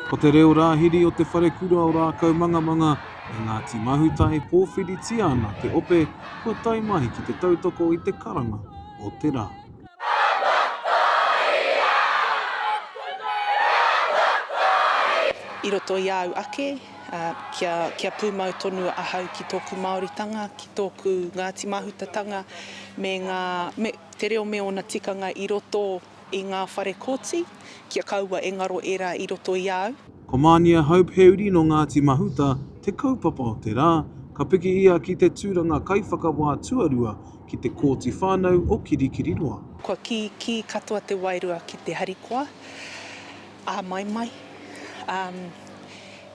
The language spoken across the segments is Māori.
Ko te reo rāhiri o Te Wharekura o Rākaumangamanga e Ngāti Mahuta e pōwhiritia ana te ope kua tae mai ki te tautoko i te karanga o te rā. I roto i āu ake. Kia pūmau tonu ahau ki tōku Māoritanga, ki tōku Ngāti Mahutatanga me ngā, me te reo me ōna tikanga i roto i ngā whare kōti, kia kaua e ngaro ērā i roto i a au. Ko Mānia Hope he uri nō Ngāti Mahuta te kaupapa o te rā, ka piki ia ki te tūranga kaiwhakawā tuarua ki te Kōti Whānau o Kirikiriroa. Kua kī, kī katoa te wairua ki te harikoa. āmaimai, ā,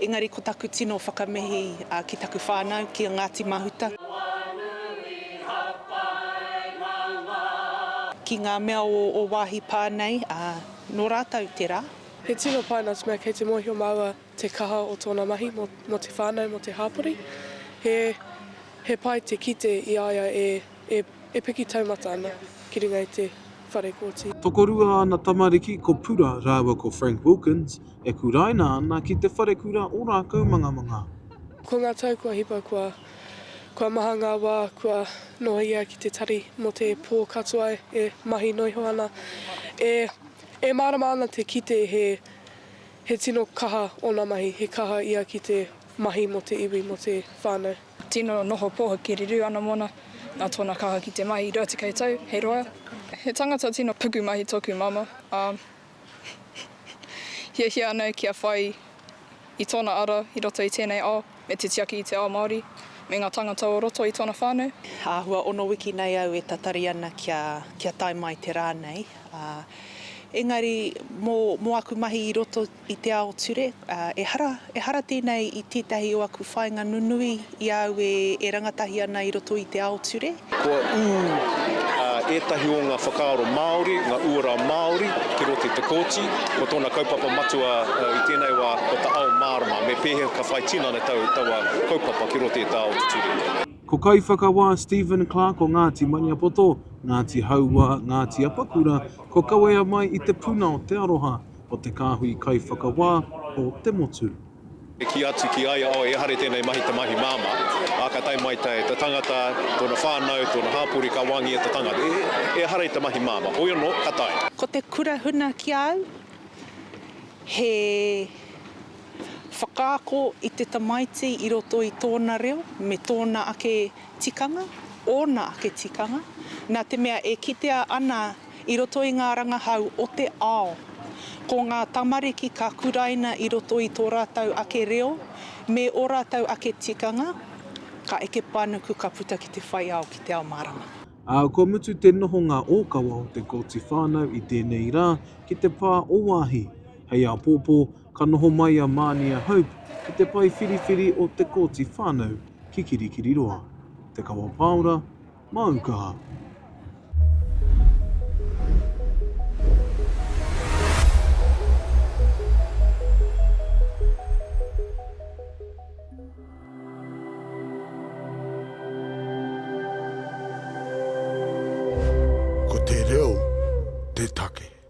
engari ko taku tino whakamihi ki taku whānau, ki a Ngāti Mahuta, ki ngā mea o ō wāhi pā nei, ā, nō rātou tērā. He tino pai nā te mea kei te mōhio māua te kaha o tōna mahi mō te whānau, mō te hāpori. He pai te kite i a ia e E piki taumata ana ki runga i te whare kōti. Tokorua ana tamariki ko Pura rāua ko Frank Wilkins e kuraina ana ki te wharekura o Rākaumangamanga. Ko ngā tau kua hipa kua kua maha ngā wā kua noho ia ki te tari mō te pō katoa e mahi noa iho ana. E e mārama ana te kite he he tino kaha ōna mahi, he kaha ia ki te mahi mō te iwi, mō te whānau. Tino noho poho ki Riru ana mona, na tona kaha ki te mahi 20 tau hei roa. He tangata tino pukumahi toku mama, a hiahia ana kia whai i tona ara i roto i tenei ao me te tiaki i te ao Maori me nga tangata o roto i tona whanau. Ahua ono wiki nei au e tatari ana kia kia tae mai te ra nei, a engari mo mo aku mahi i roto i te ao ture, ā, ehara, ehara tēnei i tētahi o aku whāinga nunui i a au e, e rangatahi ana i roto i te ao ture. Kua ū ētahi o ngā whakaaro Māori, ngā uara Māori ki roto i te Kōti. Ko tōna kaupapa matua i tēnei wā, ko ta ao mārama, me pēhea ka whai tinana tau taua kaupapa ki roto i tā ao ture. Ko Kaiwhakawā Stephen Clark o Ngāti Maniapoto, Ngāti Hauā, Ngāti Apakura, ko Kawea mai i te puna o Te Aroha, o te kāhui kaiwhakawā o te motu. E kī atu ki a ia, oh, ehare tēnei mahi te mahi māmā, ā, ka tae mai te tangata, tōna whānau, tōna hāpori, ka wāngia te tangata, e, ehare te mahi māmā, hoi anō, ka tae. Ko te kura huna ki a au, he whakaako i te tamaiti i roto i tōna reo me tōna ake tikanga, ōna ake tikanga, nā te mea e kitea ana i roto i ngā rangahau o te ao. Ko ngā tamariki ka kuraina i roto i tō rātou ake reo me ō rātou ake tikanga, ka eke panuku ka puta ki te whai ao, ki te ao mārama. Ā, kua mutu te nohonga ōkawa o te Kooti Whānau i tēnei rā ki te pā o Waahi. Hei āpōpō, ka noho mai a Mānia Hope ki te pae whiriwhiri o te Kooti Whānau ki Kirikiriroa, Te Kawa Pāora, Māu kaha. Ko te reo te take.